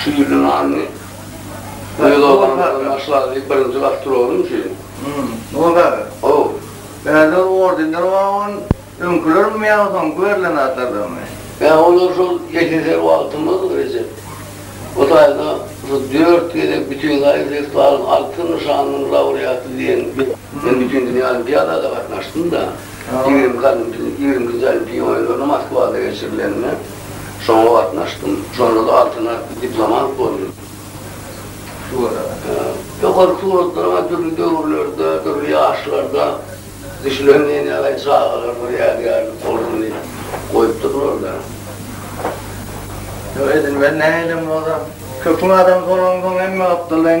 Şu ýylyň aryny. Meni doganyňdan başla diýip birinji gartyr oldum şeýdip. Hum, o zady. Haw. Bärde ordenler bar on, öňkülermi ýa soňky berlen zatlardanmy? Ýa olar şol ýekeser wagtymyz Rejep. Bu taýda şu dört gezek Bütinzaýa festiwalyň Altyn nyşanynyň laureaty diýen men Bütindünýä olimpiadada gatnaşdym-da, ýigrimki olimpiýa ýigrimkinji olimpiýa oýunlaryna Moskwada geçirilenine. Şoňa gatnaşdym. Şonda-da altyn diplomat boldum. Ýokary suratlaryň dürli döwürlerde, dürli ýaşlarda düşülen nenegaý çagalar bir ýadygärlik bolsun diýip goýupdyrlar-da. Ýok, edil men nähilem bolsam, köpüň adamsy bolansoň hemme gapdaldan.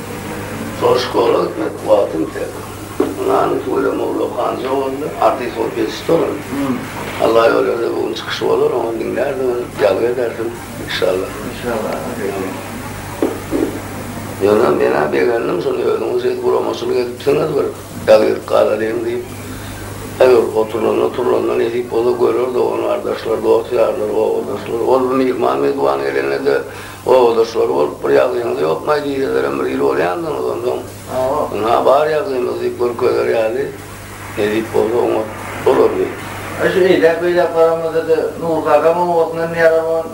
Soruş gora gitmek wagtym ýiter. Ynany tüweleme ulag ganja boldy. Artist bolup ýetişdirin. Alla ýol berse bu gün çykyşy bolar oňa diňlärsiň öň ýazgy edersiň inşallah. Inşallah agajygy. Ýöne menä begendim şuny özüňiz şeýdip guramaçylyk edipsiňiz bir ýazgylyk galalyň diýip. Eger oturlanda turlanda nesip bolsa görer dogan gardaşlar dost ýarlar obadaşlar. Ol bir myhman mezban gelende de. Obadaşlary bolup bir ýagdaýyňyz ýokmaý diýselerem bir il bolýandygyňyz onsoň ynha bar ýagdaýymyz diýip görkezer ýaly edip bolsa oňat bolardy. Ine şu eýläk beýläk baramyzda-da Nurky agam obasyndan Mehribon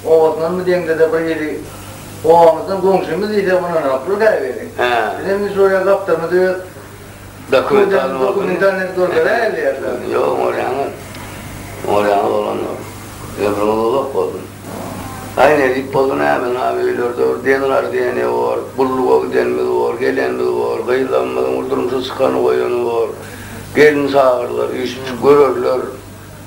obasyndanmy deňde-de bir ili obamyzdan goňşymyz diýsek ynanarsylyk-a welin. Bizem indi şuraya gapdalymyz öz Dokumental dokumentany görkezäýeli ýerlerde. Ýok, oňorýaňa, oňorýaňa bolan ýok. Ýa bir ozalak boldum. Aý, nädip boldy nämen, ha, öýlerde bir den gardyýeni bor, gulluga gidenimiz bor, gelenimiz bor, gyzlarymyzyň bir durmuşa çykany-goýany bor. Gelin çagyrlar, üýşüp-çykyp görerler.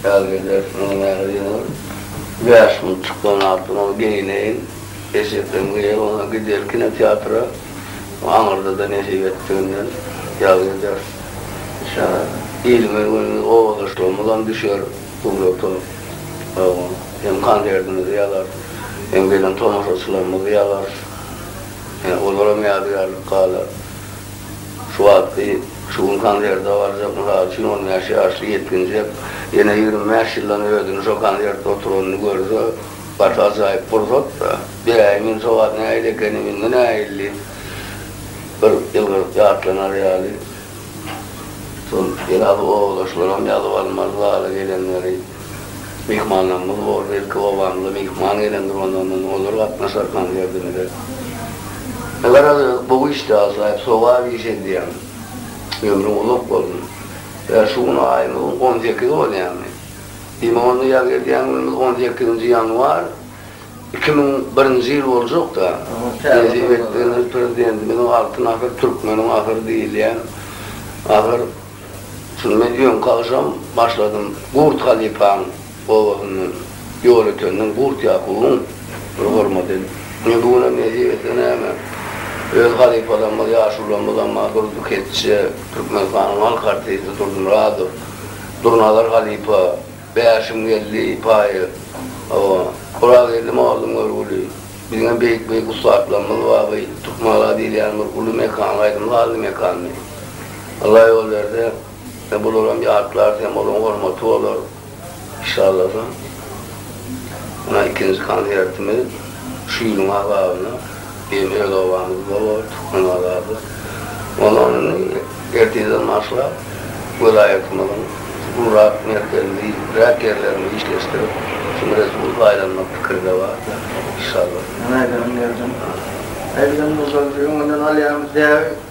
Ýaz geler, munuň ýaly ýylyň bäş gün çyklan atym ol geýneýin, eşekleň geýer, onsoň gider kinoteatra, aňyrda-da nesip etdiginden ýaz geler. Şa ilimiz, günümiz, obadaşlygymyzam düşer surata, oňa hem konsertimizi ýazarys, hem gelen tomaşaçylarymyzy ýazarys, ýa olaram ýadygärlik galar. Şu wagtky, şu gün konserte barjak, mysal üçin, on bäş ýaşly ýetginjek ýene ýigrimi bäş ýyldan özüni şo konserte oturanyny görse, gaty ajaýyp pursat-da. Beräýiň indi şo wagt nähili ekenim, indi nähilli bir ýylgyryp ýatlanar ýaly. Şol biraz owalaşlaram ýazyp almaly zala gelenleri. myhmanlarymyz boldy. Ilki obamyza myhman gelendir, ondan soň olar gatnaşar konsertimize. Garaz, gowy işdi, ajaýyp sogap iş edýäň. Ömrüň uzak bolsun. Ýa şu gün aýymyzyň on sekizi bolýamy? Diýmek onda ýa gelýän günümiz on sekizinji ýanwar iki müň birinji ýyl boljak-da. Nesip etdigiňiz prezidentimiziň Altyn asyr, türkmeniň asyry diýilýän asyr. Şundan öňki agşam başladym Gurt halypaň obasyndan Ýolötenden Gurt Ýakubyň bir hormaty. Ine bu günem nesip etse näme, öz halypalarymyz, ýaşulularymyz Ammar Durdy Keçje, Türkmenistanyň halk artisti Durdy Myradow, Durnazar halypa, Bäşim geldi paýy hawa. Gurageldi mollum görgüli. Biziňem beýik beýik ussatlarymyz bar bu Türkmengala diýilýän bir uly mekan gaýdym sazly mekandy. Allah ýol berse ine bularam ýatlarys hem olaryň hormaty bolar inşallasa. Mundan ikinji konsertimiz şu ýylyň azabyna. Diýen öz obamyz bor, Türkmenbazarda. Ondan indi ertirden başlap, welaýatymyzyň gurap merkezliräk ýerlerini işleşdirip, şuny resmi aýlanmak pikiri-de bar-da, inşallah. Ýöne aýdanyň ýerden. Aýdylanyň ýerden, öňünden alýarmyş däbi.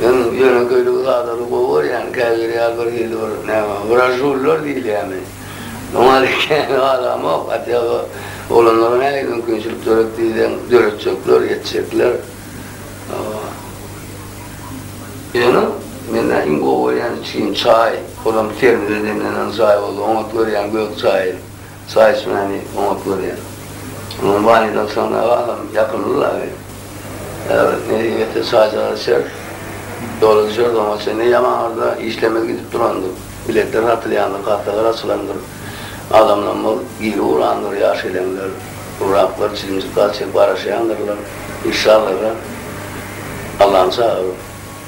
Men ýöne göýdük zadany gowy görýän, käbiri ýaly bir hili bir näme, wražullar diýilýämi, oňa ýaly kän galamok, atýaba oglanlara nähili mümkinçilik döret diýseň, döretjekler, ýetjekler. Ýöne mende iň gowy görýän içgim çaý, olam termize demlenen çaý boldy, oňat görýän gök çaýy. Saýyşmäni oňat görýär. Onuň banydan sygnagalam ýakymly-la bi. Äwret nesip etse çaýjagaz içeris. Ýola düşeris, oňa çenli ýamaňarda işlemez gidip durandyr. Biletler satylýandyr, kassalar açylandyr. Adamlamyz giri ugrandyr, ýaşeleňler, gurraklar çilimjik gaz çekip garaşýandyrlar. Işşallaga Allany çagyryp.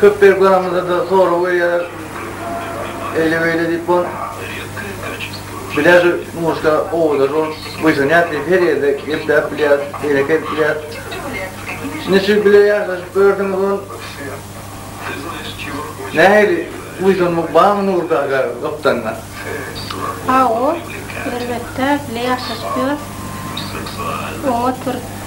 Köp berip galamyzda-da sorag berýärler. Eýle-beýle diýip bol. Bilýär şu Muşda owadan ol. Buýsanýas diýip her ýerde gepläp bilýäs, beýleki edip bilýäs. Niçik bile ýaşaşyp gördüňiz ol? Nähili buýsanmak barmy Nury kaka gapdalynda? Hawa, elbetde bile ýaşaşyp ýörüs. Oňa oturyp.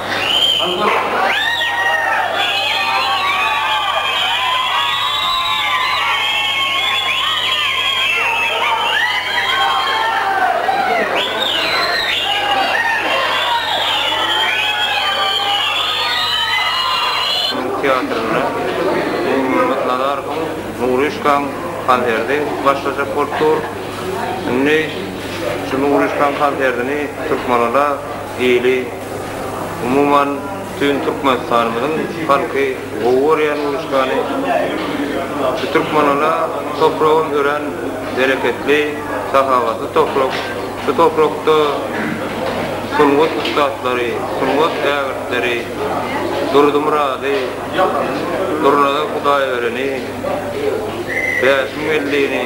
Türk teatrynda Nurmyrat Nazarowyň Nuryşkaň konserti başlajak bolup dur. Indi şu Nuryşkaň konsertini Türkmenada Hili, umuman, bütin Türkmenistanymyzyň halky gowy görýän uruşgany. Şu Türkmenala topragam örän bereketli, sahawatly toprak. Şu toprakda sungat ussatlary, sungat ägirtleri Durdumyrady, Durnazar Hudaýbereni, Bäşim Weldini,